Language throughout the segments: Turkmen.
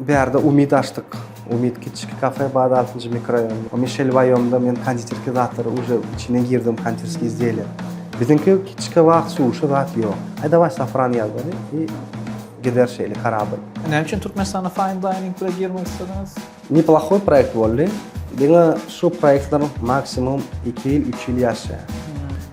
Bärde umyt açdyk. Umyt kiçki kafe bad altynjy mikroraýon. Mişel Waýomda men konditerki zatlary uje içine girdim konditerski izdelýär. Biziňki kiçki wagt suşi zat ýok. Aý daway safran ýazgany i gider şeýle karabyl. Näme üçin Türkmenistanda fine dining bire girmek islediňiz? Neplahoý proýekt boldy. Diňe şu proýektler maksimum iki ýyl üç ýyl ýaşaýar.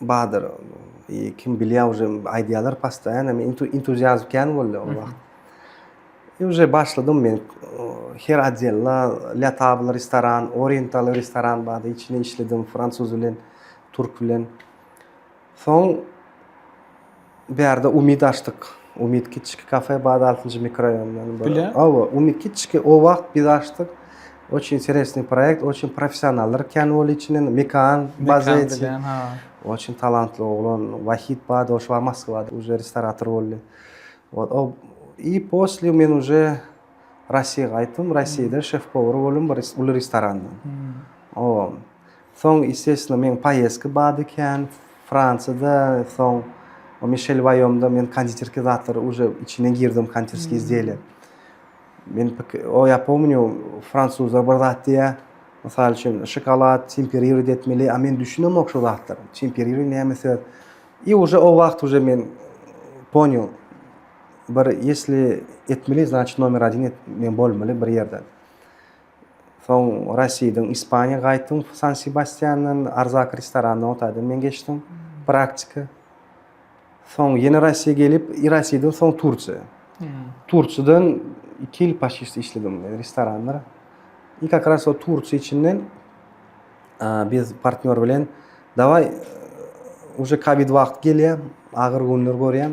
badyr kim bilýä uje aýdýalar pastaýan men entuziast kän boldy ol wagt i uje başladym men her adella latable restoran oriental restoran bady içine işledim fransuz bilen turk bilen soň Bärde umyt açdyk. Umyt kiçki kafe bad altynjy mikroraýondan bir. Bile? Awa, umyt kiçki o wagt biz açdyk. Oç interesny proýekt, oç professionallar kän bol içinde, Mekan Bazeti. Mekan ha. Oç talantly oglan Wahid bad oş wagt Moskwada uje restorator boldy. Ol o i posle men uje Rossiýa gaýtdym, Rossiýada şef-powar boldum bir uly restoranda. Awa. Soň estestno meň paýeski bady kän fransiýada soň mişel waýomda men konditerki zatlary uje içine girdim konditerski izdiýeler men o ýa pomnýu fransuzlar bir zat diýýä mysal üçin şokolad temperirowat etmeli a men düşünemok şu zatlara temperiri näme söz i uje o wagt uje men ponýu bir ýesli etmeli znaçit nomer adin et men bolmaly bir ýerde. Soň Rasidiň Ispaniýa gaýtdym San Sebastiandan Arzak restoranynda otaýdan men geçdim. Praktika. Soň ýene Rasiýa gelip, Rasiden soň Tursiýa. Tursiýadan 2 ýyl paşişdi işledim men restoranda. I kak ras o Tursiýa içinden biz partnýor bilen dawaý uje kowid wagty gelýär, agyr günler görýän.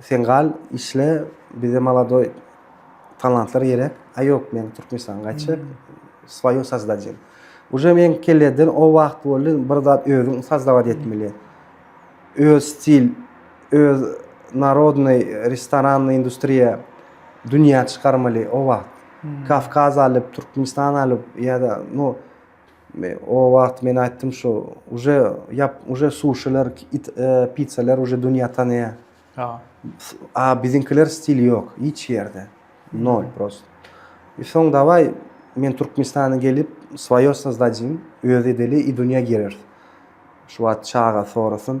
Sen gal işle bize maladoý talantlar gerek. A ýok men Türkmenistana gaýtjak. Swoýo sazdajem. Uje men kelleden o wagt boldy bir zat özüň sazdawat etmeli. Öz stil, öz narodnoý restoranny industriýa dünýä çykarmaly o wagt. Kawkaz alyp, Türkmenistan alyp ýa-da no O wagt men aýtdym şu uje ýap uje suşiler pizzalar uje dünýä tanýa. Ha. A biziňkiler stil ýok hiç ýerde. Nol prost. I soň dawai men Türkmenistana gelip svoýe sozdadýyn öz edeli i dünýä girer. Şu wagt çaga sorasyn.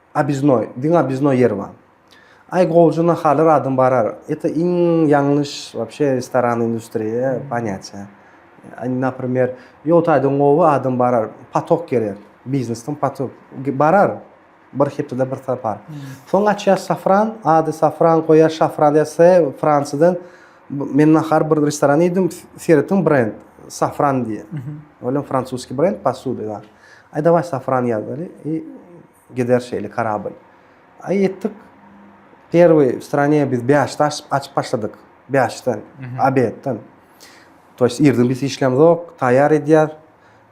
Obiznoý, diňe obiznoý ýer bar. Aý gowja nahalar adam barar. Ete iň ýalňyş wapşe restoran industriýa panýaçe. Naprimer, ýol taýdan gowy adam barar. Patok gerek. Biznesden patok barar. Bir hepdede bir sapar. Soň açýar safran, ady safran goýar, şafran ýa-se Fransiýadan Men nahar bir restoran iýdim, seretiň brend Safran diýe. Ölen fransuski brend posuda ýa. Aý daway Safran ýazaly i gider şeýle karabyl. Aý etdik. Perwy w strane biz bäşde açyp açyp başladyk. Bäşden, abetden. To ýest irden biz hiç näme zok, taýýar edýär.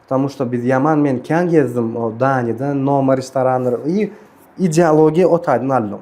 Ptamu şda biz ýaman men kän gezdim o Daniýadan, Noma restoranlar i ideologiýa otaýdan aldym.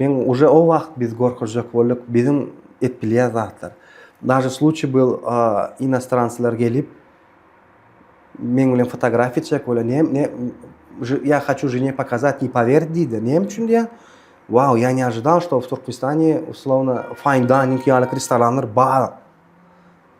Men uje o wagt biz gorkuzjak bolduk biziň et bilýän zatlar. Daže sluçiý byl inostranslar gelip meň bilen fotografiýa çek bole ne ne ýa haçu žene pokazat ne powerdi diýdi. Näme üçin diýä? Wow, ýa ne ažydal, şto w Türkmenistany uslowna fine dining ýaly restoranlar bar.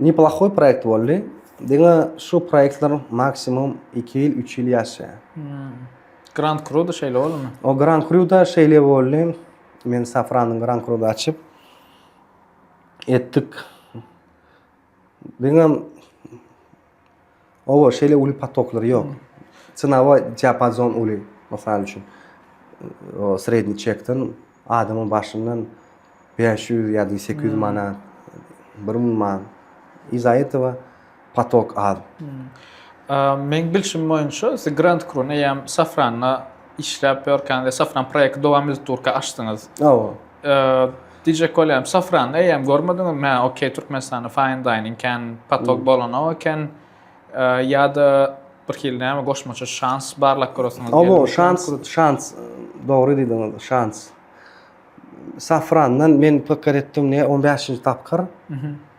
Neplohoý proýekt boldy. Diňe şu proýektler maksimum iki ýyl, üç ýyl ýaşaýar. Grand Cru-da şeýle boldumy? O Grand Cru-da şeýle boldy. Men Safranyň Grand Cru-da açyp etdik. Diňe Oba, şeýle uly potoklar ýok. Synawa diapazon uly. Mysal üçin, o sredniý çekden adamyň başyndan 500 ýa-da 800 manat, 1000 manat. Yza etowa potok az. Meň bilşim boýunça, The Grand Krun eýýäm Safranda Işläp ýörkäňiz safran proýekti dowam edip durka açdyňyz. Hawa. Diýjek bolýarym, safrany eýýäm görmediňizmi? Hä, okey, Türkmenistanda fine dining kän patok bolanok eken. Ýa-da birhili näme goşmaça şans barlap göresiňiz gelipmi? Hawa, şans, şans. Dogry diýdiňiz, şans. Safrandan men pikir etdim, näme, on bäşinji tapgyr.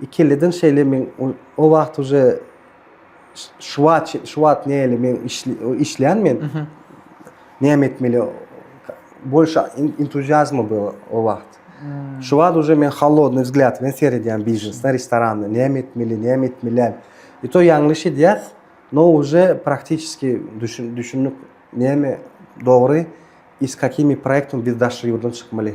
Ikiliden şeýle men o wagt uje şu wagt şu wagt näle men işleýän men. Näme etmeli? Bolşa entuziazma bu o wagt. Şu wagt uje men halodny wzglýad bilen seredýän biznesde, restoranda näme etmeli, näme etmeli. I to ýaňlyş edýäs. No uje praktiçeski düşün düşünip näme dogry i s kakimi proýektim biz daşary ýurdan çykmaly.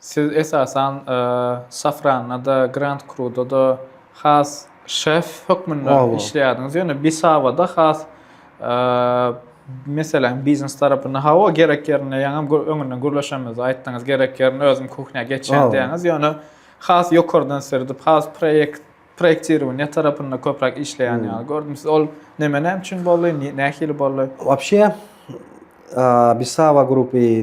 Siz esasan Safranda-da, Grand Cru-da-da has şef hökmünde işleýärdiňiz, ýöne Bisaba-da has meseläň biznes tarapynda, hawa, gerek ýerinde ýaňam öňünden gürleşenimizde aýtdyňyz, gerek ýerinde özüm kuhnýa geçýän diýýäňiz, ýöne has ýokardan serdip, has proýekt, proýektirowaniýe tarapynda köpräk işleýän ýaly gördüm sizi. Ol neme, näme üçin boldy, nähili boldy? Wapşe, Bisaba grupy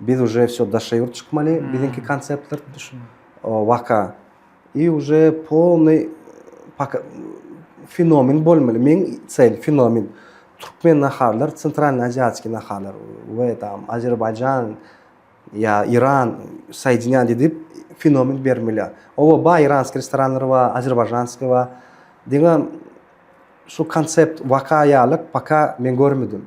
biz uje wsё daşa ýurt çykmaly biziňki konceptler waka i uje polnyý fenomen bolmaly meň çel fenomen türkmen naharlar centralnyý aziýaskiý naharlar we tam azerbaýjan ýa iran saýdinýan diýdip fenomen bermeli oba baý iranskiý restoranlar bar azerbaýžanskiý bar diňe şu koncept waka ýaly paka men görmedim.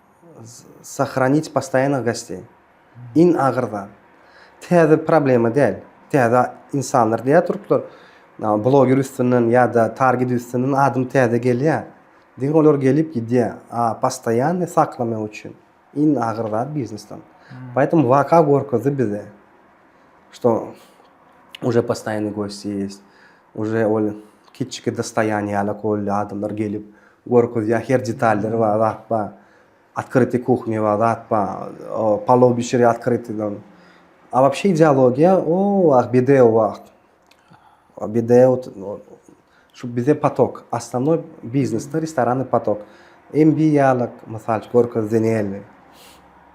Sahranit postoýannygy gaçdy. Iň agyrda. Täze problema däl. Täze insanlar diýä turuplar. Bloger üstünden ýa-da target üstünden adam täze gelýär. Diňe olar gelip gidýär. A postoýanny saklamak üçin iň agyr zat biznesden. Poýtom waka gorkuzdy bize. Şto uje postoýanny gosti ýest. Uje ol kiçiki dostoýaniýalak boldy, adamlar gelip, görkezýär, her detallary bar, zat bar. Otkryty kuhny bar, zat bar, palow bişirýär otkrytydan. A wapşe ideologiýa o wagt, BDO wagt, BDO şu bize patok, osnovnoý biznesde restoranny patok. MB ýaly, mysal üçin, görkezdi näme.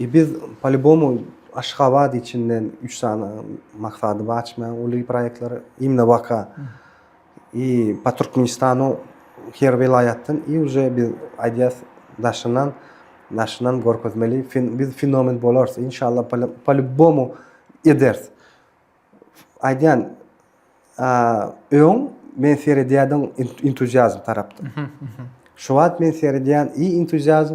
E biz palibomu Aşgabat içinden üç sany maksady bar açmaýan uly proýektleri imna baka i pa Türkmenistanu her welaýatdan i uje biz aýdýas daşyndan daşyndan görkezmeli biz fenomen bolarys inşallah palibomu ederis aýdýan öň men seredýädim entuziazm tarapdan şu wagt men seredýän i entuziazm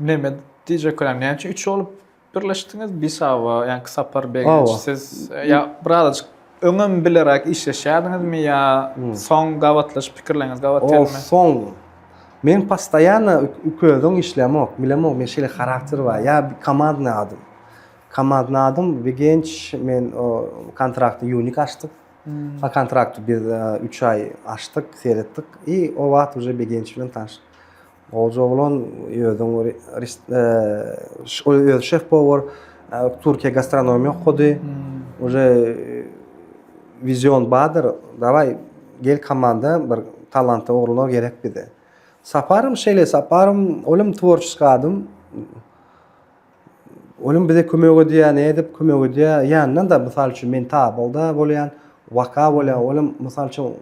Neme diýjek bolýan, näme üçin üç bolup birleşdiňiz? Bisawa, ýaňky Sapar Begenç, siz ýa birazajyk öňem bileräk işleşýärdiňizmi ýa soň gabatlaşyp pikirleriňiz gabat geldi? Soň. Men postoýanna ikimizden işlemok, bilemok, men şeýle harakter bar. Ýa komandny adam. Komandny adam Begenç, men o kontrakty ýunik açdyk. O kontrakty biz üç aý açdyk, seretdik. I o wagt uje Begenç bilen tanyş. Goja oglan özüň öz şef power Türkiýe gastronomiýa okady. Uje vizion badyr. Daway gel komanda bir talantly oglanlar gerek bize. Saparym şeýle saparym olum tworçeskiý adam. Olim bize kömek edýär, ne edip kömek edýär. Ýandan da mysal üçin men tabylda bolýan, waka bolýan. Olim mysal üçin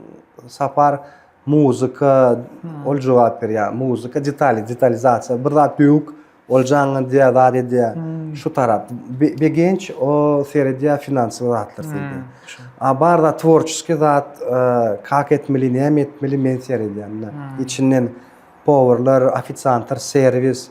sapar muzika ol jogap berýär. Muzika detali, detalizasiýa. Bir zat döwük, ol jaňňa diýär, zat edýär. Şu tarap begenç, o seredýär finansowy zatlar sende. A bar zat tworçeskiý zat, kak etmeli, näme etmeli men seredýär. Içinden powurlar, ofisiantlar, serwis.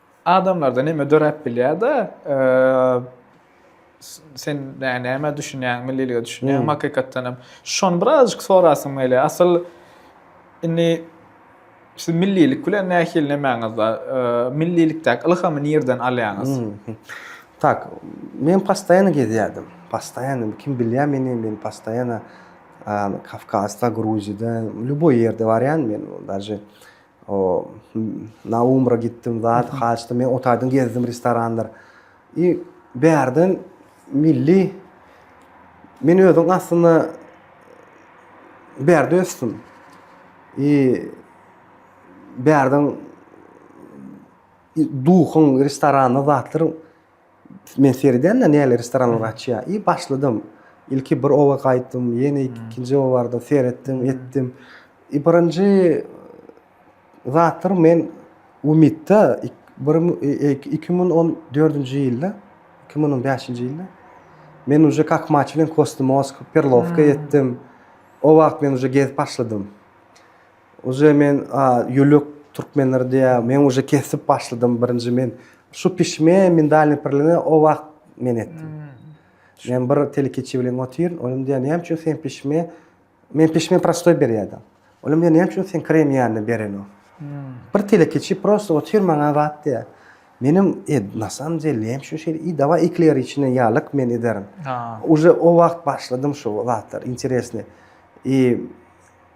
Adamlarda näme döräp bilýär-de, sen näme düşünýäň, millilige düşünýäňmi hmm. hakykatdan hem? Şony birazjyk sorasym gelýär. Asyl indi siz millilik bilen nähili nemäňizde, millilikdäki ylhamy nirden alýaňyz? Hmm. Tak, men postoýany gezýärdim. Postoýany kim bilýär meni, men postoýany Kavkazda, Gruziýada, lýuboý ýerde barýan men, daže O na umra gitdim zat haçda men otaýdym gezdim restoranlar. I bärden milli men özüm aslynda bärde ösdüm. I bärden duhun restoranda zatlar men seredýän-de näler restoranlar açýar. I başladym. Ilki bir oba gaýtdym, ýene ikinji oba bardym, seretdim, etdim. I birinji zatlar men Umytda bir iki müň on dördünji ýylda, iki müň on bäşinji ýylda men uje kak maçlin kostumowsk, perlowka etdim. O wagt men uje gezip başladym. Uje men ýülük türkmenler diýä men uje kesip başladym birinji men şu pişme mindalny pirlini o wagt men etdim. Men bir telekeçi bilen otyr, olam diýär, näme üçin sen pişme? Men pişme prostoý berýärdim. Olam diýär, näme üçin sen krem ýanyny berenok? Bir telekeçi prosto otyr maňa wagt diýär. Menem e, na samom деле, näme üçin şeýle? I dawa ekler içine ýalyk men ederin. Uje o wagt başladym şu zatlar, interesne. I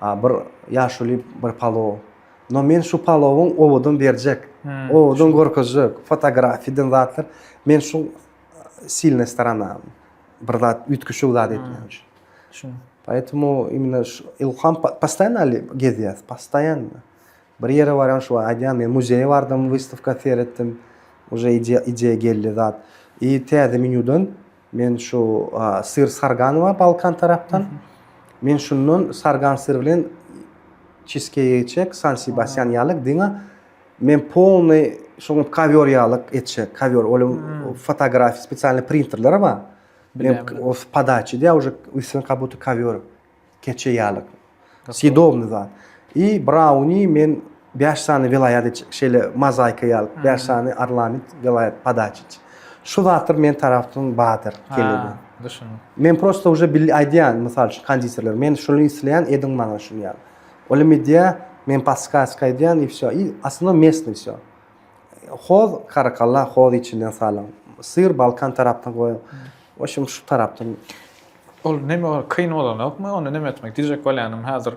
A bir ýaşuly bir palow. No men şu palowyň owadan berjek, owadan görkezjek, fotografiden zatlar. Men şu silne strana bir zat üýtgeşik zat etmek üçin. Şuň. Poetmu imine şu ilham postaýanali gezýäs, postaýanna. Bir ýere barýan şu aýdýan men muzeýe bardym wystawka seretdim uje idea geldi zat i täze menýudan men şu syr sargan bar balkan tarapdan men şundan sargan syr bilen çizkeýi etjek san sibasýan ýalyk diňe men polny şoňa kowýor ýalyk etjek kowýor ol fotografiýa spesialny printerler bar men podaçy diýýär uje üstüne kabutda kowýor. Keçe ýaly. Sidomny zat. I brauni men bäş sany welaýat iç, şeýle mozaika ýaly bäş sany arlamit welaýat padaç iç. Şu zatlar men tarafdan badyr geleni. Düşündim. Men prosta uje bil aýdýan, mysal üçin konditerler, men şuny isleýän ediň maňa şuny ýaly. Ol hem edýä, men paskaska edýän i wsýo. I asylna mesny wsýo. Hoz karakalla hoz içinden salyň. Syr balkan tarapdan goýuň. Oşum şu tarapdan. Ol neme ol kyn bolanokmy ony neme etmek diyjek bolyanym hazir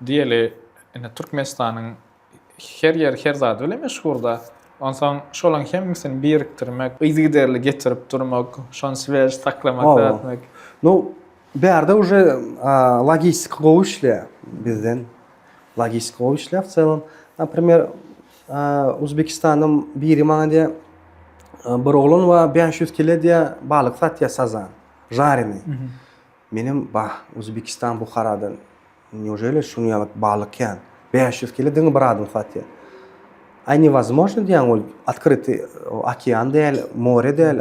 diyeli ine Türkmenistanyň her yeri her zady bilen meşhurda onsaň şolaň hemmisini birikdirmek yzygiderli getirip durmak şony svež saklamak zat etmek. Nu bärde uje logistika gowy işleýär bizden logistika gowy işleýär wcelam naprimer Uzbekistandan biri maňa diýýär, Bir oglan bar, bäş ýüz kile diýýär, balyk satýar sazan, žareni. Menem, Bah, Uzbekistan Buharadan neujeli şunuň ýaly balyk kän? Bäş ýüz kile diňe bir adam satýar. Aý, newozmožno diýýän, ol otkrytyý okean däl, more däl.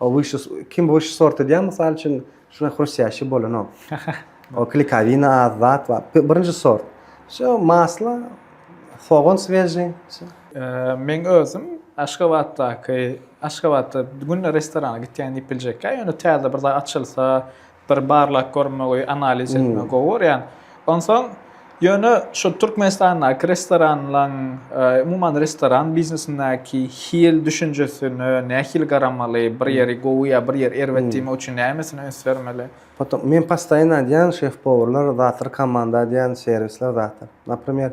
O wyşy kim wyşy sort edýär mysal üçin şuna hrustýaşi bolanok. O klikawina az zat bar. Birinji sort. Şu masla sogan sveji. Meň özüm Aşgabatdaky Aşgabatda günde restorana gitýän diýip biljekkä ýöne täze bir zat açylsa bir barlak görmegi analiz etmegi gowy görýän. Onsoň ýöne şu Türkmenistandaky restoranlaň umuman restoran biznesindäki hil düşünjesine nähili garamaly, bir ýeri gowy ýa bir ýeri erbet diýmek üçin nämesine üns bermeli? Potom men postaýyn aýdýan şef-powurlar zatdyr komanda aýdýan serwisler zatdyr. Napremýer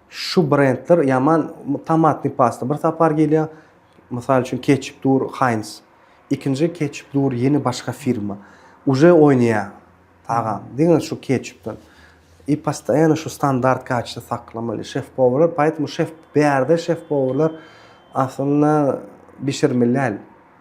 Şu brendler ýaman tomatny pasta bir sapar gelýä, mysal üçin ketçup dur Heinz. Ikinji ketçup dur ýene başga firma. Uje oýnaýa tagam. Diňe şu ketçupdan. I postoýano şu standart kaçta saklamaly şef-powrlar. Poýtomu şef bärde şef-powrlar aslynda bişirmeli däl.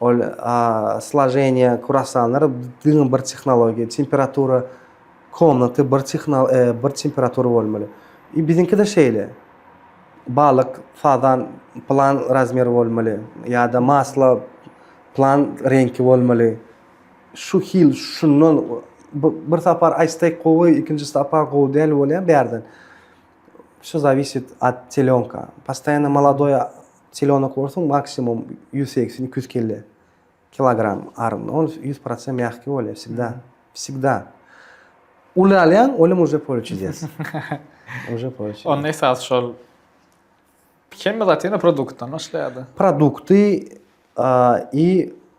Ol slojeniýe kurasanlar diňe bir tehnologiýa, temperatura komnaty bir bir temperatura bolmaly. I biziňki-de şeýle. Balyk, fazan plan razmer bolmaly ýa-da masla plan reňki bolmaly. Şu hil şundan bir sapar aýtsek gowy, ikinji sapar gowy däl bolýar bärden. Şu zawisit at telýonka. Postaýano maladoý Selenokorsyň maksimum ýüz segsen iki ýüz kelle kilogram armyny ol ýüz protsent mýahki bolýa wsegda wsegda uly alýaň olim uje pole çudes uje pole çudes onda esas şol hemme zat ýene produktdan başlaýada produkty i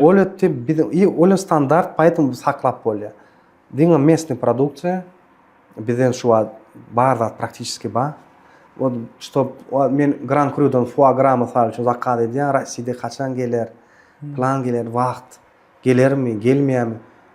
Ol etdi biz i ol standart paýtam biz saklap bolýar. Diňe mesni produktsiýa bizden şu wagt bar zat praktiçeski bar. Ol ştob men gran krýudan fua gra mysal üçin zakaz edýär, Rossiýada haçan geler, plan geler, wagt gelermi, gelmeýärmi.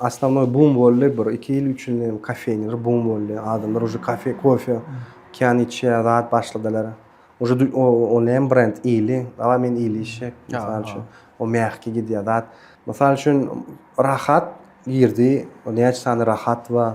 Основnoý bum boldy, bir iki ýyl üç ýyl näme kofeýniler bum boldy, adamlar uje kafe kofe kän içýär zat başladylar. Uje o näme brend ýyly, dawaý men ýyly içjek mysal üçin, o mähki gidýär zat. Mysal üçin rahat girdi, näçe sany rahat bar.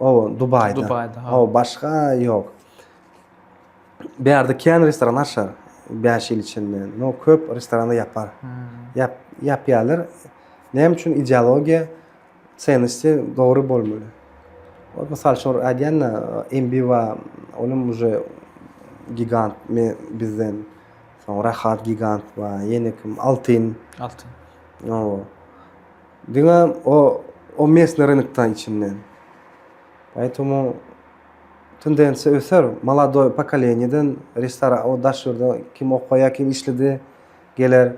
O Dubaýda. Dubaýda. O başga ýok. Bu ýerde kän restoran açar 5 ýyl içinde. No köp restorany ýapar. Ýap ýapýarlar. Näme üçin ideologiýa senesi dogry bolmaly. Ol mysal üçin aýdýanda Embiwa olam uje gigant me bizden. Soň Rahat gigant we ýene kim Altyn. Altyn. No. Diňe o o mesne rynokda içinden. Aýtomu tendensiýa öser. Maladoý pokoleniýeden restoran o daş ýurda kim okaýa, kim işledi geler.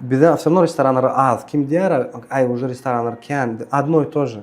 Bize asyrno restoranlar az. Kim diýär, aý uje restoranlar kän. Adno i to je.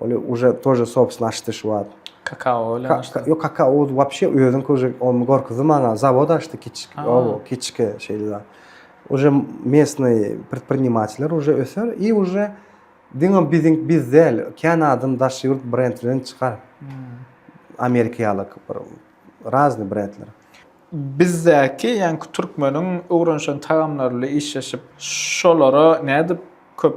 Ony uje tože sobsna açdy şu wagt. Kakao bilen açdy. Ýok kakao wapşe özüň uje ony gorkuzdy maňa. Zawod açdy kiçik. Owo kiçike şeýle. Uje mesny predprinimateler uje öser i uje diňe biziň biz däl kän adam daş ýurt brend bilen çykar. Amerika ýaly bir razny brendler. Bizdäki ýaňky türkmeniň öwrenişen tagamlary ile işleşip şolara nädip köp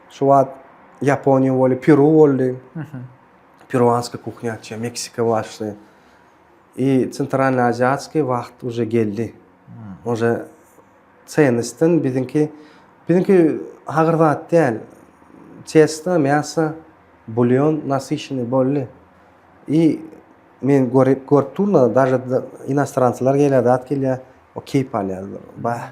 Şu wagt Ýaponiýa boldy, Peru boldy. Peruanskiý kuhnya açýar, Meksika başly. I Sentralny Aziýaskiý wagt uje geldi. Uje çenistden biziňki biziňki agyr zat däl. Çesta, mäsa, bulýon, nasyşyny boldy. I men görip görüp durna, daže inostranslar gelýär, zat gelýär, o keýp alýar. Bah,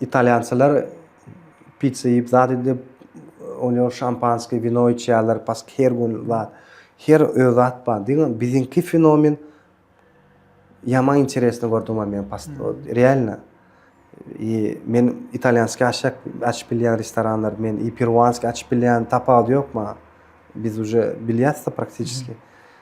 Italýançalar pizza iýip, zat edip, onýoň şampanskiý, wino içýärler, pask her gün zat. Her öz zat bar. Diňe biziňki fenomen ýaman interesni gördüm men past. Realno. I men italýanskiý aşak açyp bilýän restoranlar, men i peruanskiý açyp bilýän tapawudy ýok maňa. Biz uje bilýäs-de praktiçeski.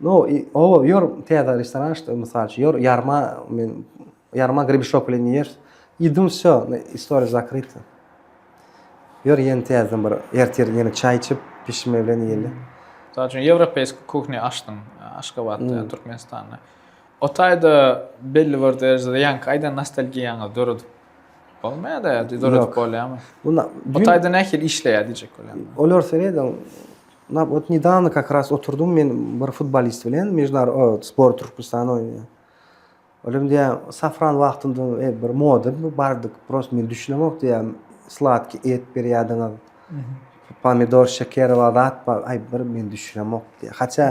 No, o, ýör, täze restoran açdy, mysal üçin, ýör, ýarma, men, ýarma gribişok bilen ýer. Idum, sö, istoriýa zakrita. Ýör, ýene täzeden bir, ertir ýene çaý içip, pişme bilen ýeli. Mysal üçin, ýewropeýski kuhni açdym, Aşgabatda, Türkmenistanda. O taýda belli bir derejede ýaňky aýdan nostalgiýaňyzy döredip bolmaýar-da ýa-da döredip bolýarmy? O taýda nähili işleýär diýjek bolýan. Olar, sen eýdem, Na wot nedawno kak ras oturdym men bir futbolist bilen mejnar o sport türkmenistan oýnaýan olam diýýär safran wagtynda e, bir moda bu bardyk prost men düşünemok diýýär sladki et berýärdiňiz pomidor şeker bar zat bar aý bir men düşünemok diýýär haça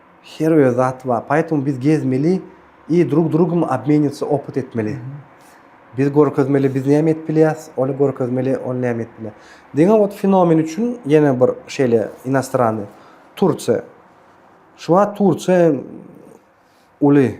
Her bir zat bar. Poetому biz gezmeli i drug drugom obmenitsa opyt etmeli. Biz görkezmeli biz näme edip bilýäs, ol görkezmeli ol näme edip bilýär. Diňe ot fenomen üçin ýene bir şeýle inostrany Tursiýa. Şu wagt Tursiýa uly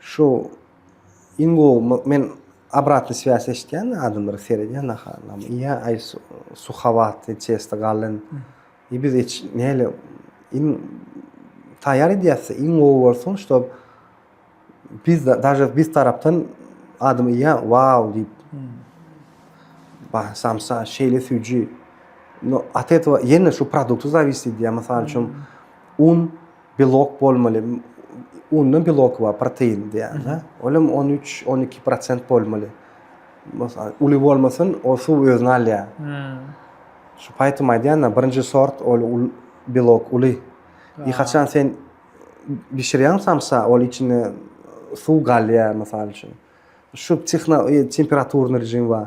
Şu iň gowy men obratny swias eşitýän adamlara seredýän naha nam ýa aý suhawatly çesto galyn i biz eç näle iň taýýar edýäs iň gowy bolsun ştob biz daže biz tarapdan adam ýa wau diýip ba samsa şeýle süýji no at etwa ýene şu produkty zawisdi diýýär mysal üçin un Belok bolmaly, unda belok bar, protein diýýärler. Olam on üç, on iki prosent bolmaly. Mysal, uly bolmasyn, ol suw özüne alýar. Şu paýtym aýdýan-da, birinji sort ol belok uly. I haçan sen bişirýäň samsa, ol içinde suw galýar, mysal üçin. Şu temperaturny režim bar.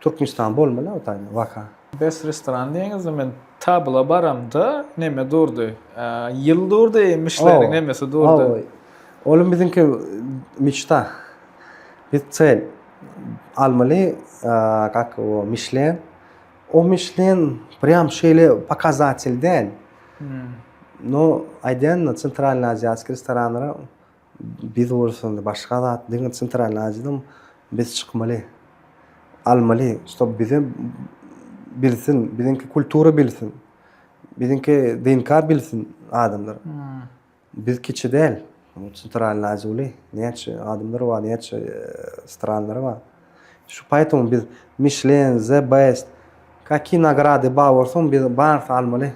Türkmenistan bolmaly a o taýdan waka. Best restoran diýeniňizde men tabla baramda neme durdy. Ýyl durdy iýmişleriň nemesi durdy. Hawa. Olam biziňki meçta. Biz çel almaly kak o mişlen. O mişlen prýam şeýle pokazatelden. No aýdýan da sentralny aziýaskiý restoranlara. Biz bolsa başga zat diňe Centralnyý Aziýadan biz çykmaly. Almaly, ştob bizem bilsin, biziňki kultura bilsin. Biziňki DNK bilsin adamlar. Biz kiçi däl. Centralnyý Aziýa uly. Näçe adamlary bar, näçe stranlary bar. Şu paýtun biz Michelin, The Best, kaki nagrady bar bolsun biz barsy almaly.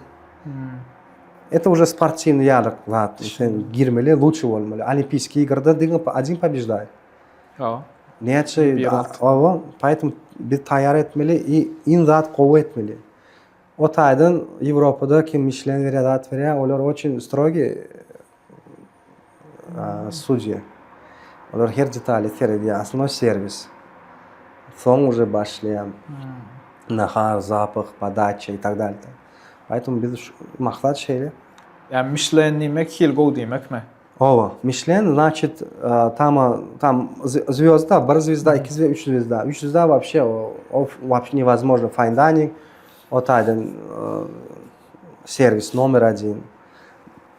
Eto uje sportiwny ýalyk zat sen girmeli luçi bolmaly olimpiskiý girde diňe adin pobejdaýy. Ýa. Näçe oba paýtun biz taýýar etmeli i in zat gowy etmeli. Otaýdan Ýewropada kim Michelin berýär zat berýär olar oçin strogi. Sudýa. Olar her detaly seredýär. Aslynda serwis. Soň uje başlaýan nahar, zapah, podaça i tak dalýda. Aýtym biz maksat şeýle. Ýa Michelin diýmek hil gowy diýmekmi? Hawa, Michelin znaçit tama tam zwýozda, bir zwýozda, iki zwýozda, üç zwýozda. Üç zwýozda wapşe o wapşe newozmojno fine dining. O taýdan serwis nomer 1.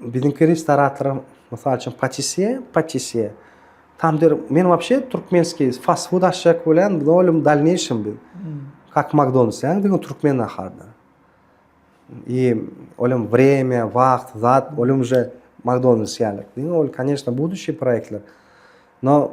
Biziňki restorator, mysal üçin, patisýe, patisýe. Tam der, men wapşe türkmenskiý fast food açjak bolýan, biz olim dalneýşim biz. Kak hmm. Makdonalds, ýa diňe türkmen naharda. I olim wremýa, wagt, zat, olim je Makdonalds ýaly. Diňe ol, koneşna, buduçi proýektler. No,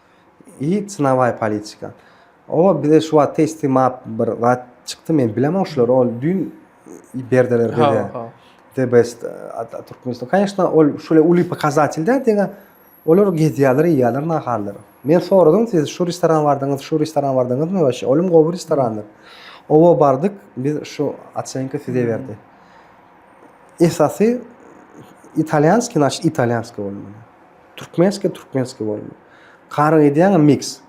i cnavaý politika o bize şu wagt testy map bir zat çykdy men bilemok şular ol düýn berdiler bize the best türkmenistan конечно ol şule uly pokazatelь dä diňe olar gezýärler iýýärler nahallary men soradym siz şu restoran bardyňyz şu restoran bardyňyzmy waş olum gowy restorandyr oba bardyk biz şu oçenka size berdi esasy italýanski naş italýanski bolmaly Türkmenski türkmenski bolma. Karyk edýäňä mix.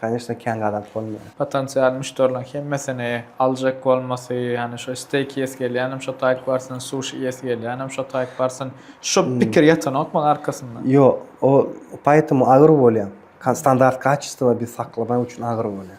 Kanyşna kän gadap bolma. Potensial müşderileň hemmesini aljak bolmasy, ýani şo steýk iýesi gelýänem şo taýyk barsyn, suşi iýesi gelýänem şo taýyk barsyn. Şo pikir ýatanok maňa arkasynda. Ýok, o poetemu agyr bolýa. Standart kaçestwa biz saklamak üçin agyr bolýa.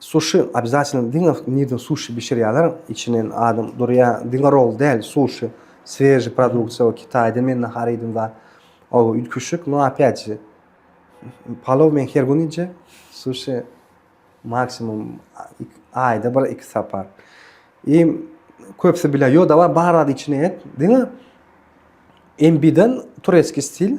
Suşi obýazatelno diňe nirden suşi bişirýäler içinen adam durýa diňe roll däl suşi sweži produksiýa o kitaýda men nahar iýdim zat oba üýtgüşik no opýat ji palow men her gün iýje suşi maksimum aýda bir iki sapar i köpsi bilýär ýo dawa bar zat içine et diňe mbden tureskiý stil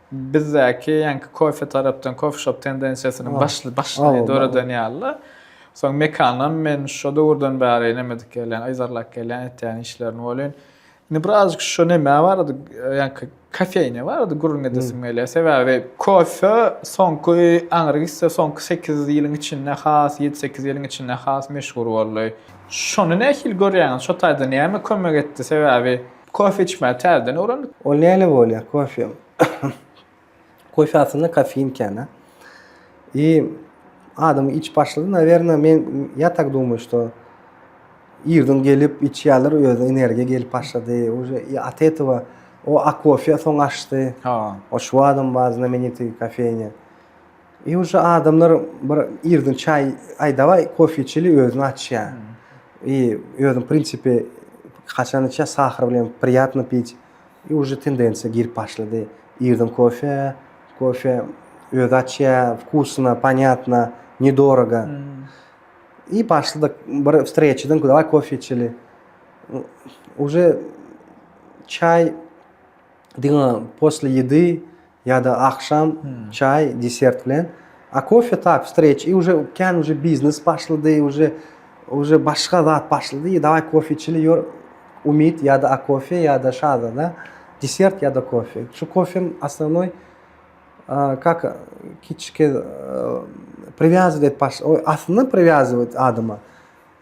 Bizdäki ýaňky kofe tarapdan kofeşop tendensiýasynyň başly başlyny döreden ýaly-da. Soň Mekanam men şo döwürden bäri nämedik gelýän, yzarlap gelýän etýän işlerini welin, indi birazajyk şo nämä barada, ýaňky kofeýnä barada gürrüň edesim gelýär. Sebäbi kofe soňky aňry gitse, soňky sekiz ýylyň içinde has, ýedi-sekiz ýylyň içinde has meşhur boldy. Şony nähili görýäňiz? Şo taýdan näme kömek etdi? Sebäbi. Kofe içmäni täzeden öwrendik. Ol näle bolýar kofe? Kofe aslynda kofein ekeni. I adam içip başlady, nawerno men ya tak dumay şto irden gelip içýärler özüne energiýa gelip başlady. Uje i at etowa o a kofe soň aşdy. Ha. O şuadam bar znamenitý kofeýnýa. Iň şu adamlar bir irden çaý, aý daway kofe içeli özüni açýa. I özüň prinsipi haçan içýa sahar bilen priyatno piç. I uje tendensiýa girip başlady. Irden kofe, kofe özi açýa, vkusno, panyatno, ne dorogo. I başladyk bir streçadan daway kofe içeli. Uje çaý. diňe posle ýedi ýa-da agşam çaý, desert bilen. A kofe tak, wstreç, i uje kän uje biznes başlady, uje uje başga zat başlady, i dawaý kofe içeli, ýör, umyt ýa-da a kofe ýa-da şazada, desert ýa-da kofe. Şu kofem osnovnoý kak kiçike priwýazowet baş, oý, aslynda priwýazowet adama.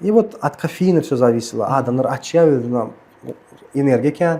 I wot od kofeina ço zawisilo, adamlar açýa özüne energiýa kän,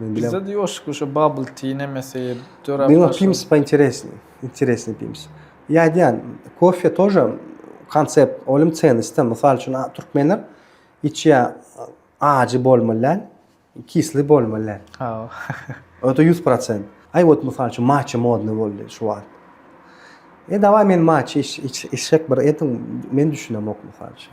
Bizde de ýoşk uşo bubble tea nemesi dörap başlady. Meň pims pointeresny, interesny pims. Ýa aýdýan, kofe toja konsept, olim çeniste, mysal üçin, türkmenler içýä ajy bolmaly däl, kisli bolmaly däl. Hawa. Öte 100%. Aý wot mysal üçin maçe modny boldy şu wagt. E dawaý men maçe içsek bir ediň, men düşünemok mysal üçin.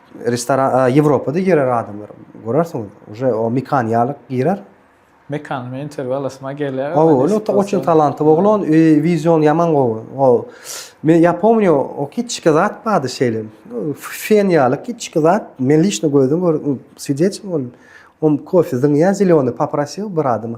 Restoran Ýewropada girer adamlar. Görersiňiz, uje o mekan ýalyk girer. Mekan men interwýu alasyma gelýär. O öyle oçun talantly oglan, vizion ýaman gowy. O men ýa pomnýo o kiçki zat bardy şeýle. Fen ýaly kiçki zat. Men lişno gözüm gör swidetçi boldum. O kofe zyňýan zeleni paprasýo bir adama.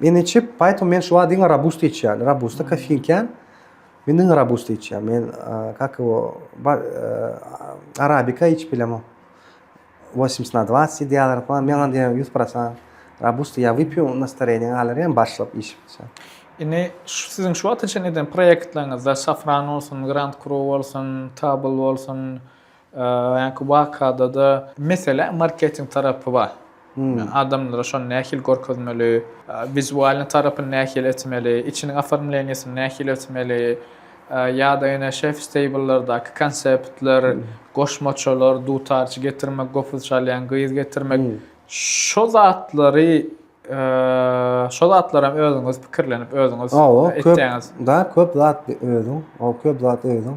Men içip, poetmu men şuwagt diňe robusta içýän. Robusta kofein kän. Men diňe robusta içýän. Men kak ýo arabika içip bilemok. Wosmyts na dwasyt diýýärler falan. Men onda ýa ýüz prosan robusta ýa wypýu nastoreniň galar ýa başlap içip içýän. Indi şu siziň şu wagta çenli eden proýektleriňizde safran bolsun, grand kru bolsun, tabl bolsun, Öňki wakada-da, mesele marketing tarapy bar. Adamlara şony nähili görkezmeli, wizualnyý tarapyny nähili etmeli, içiniň oformleniýasyny nähili etmeli, ýa-da ýene şefs-teýbllardaky konseptler, goşmaçalar, dutarçy getirmek, gopuz çalýan gyz getirmek, şo zatlary, şo zatlaram özüňiz pikirlenip, özüňiz etýäňiz. Hawa, köp zat özüň, köp zat özüň.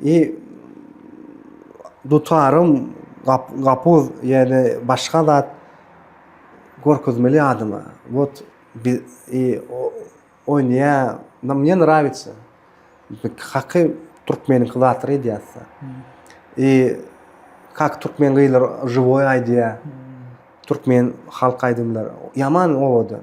I dutarym gapuz ýa-da başga zat görkezmeli adama. Wot i oýnaýa na mne nrawitsa. Haky türkmeniňki zat reýdýassa. I kak türkmen gyzlar žiwoý aýdýa. Türkmen halk aýdymlar. Ýaman owadan.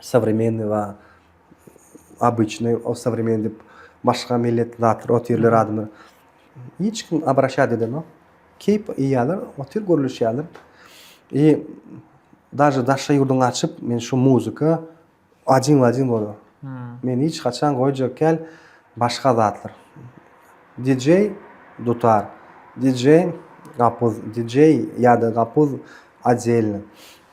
Sowremennyý wa obyçnyý, o sowremennyý diýip başga millet zatlar otyrlar adamlar. Hiç kim abraşýat edenok. Keýp iýýärler, otyr gürleşýärler. I daže daşary ýurduň açyp, men şu muzika ajin w ajin bolar. Men hiç haçan goýjak kel başga zatlar. DJ dutar, DJ gapuz, DJ ýa-da gapuz odelny.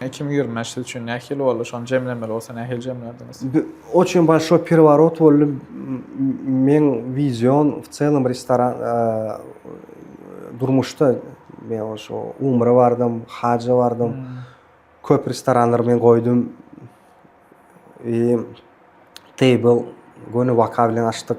Hekim ýerine siz üçin nähili boldy? Şony jemlemeli bolsa nähili jemlärdiňiz? Oçin bolşoý perworot boldy. Meň wizion w çelem restoran durmuşda men oşo umra bardym, haja bardym. Köp restoranlar men goýdum. Eee table göni waka bilen açdyk.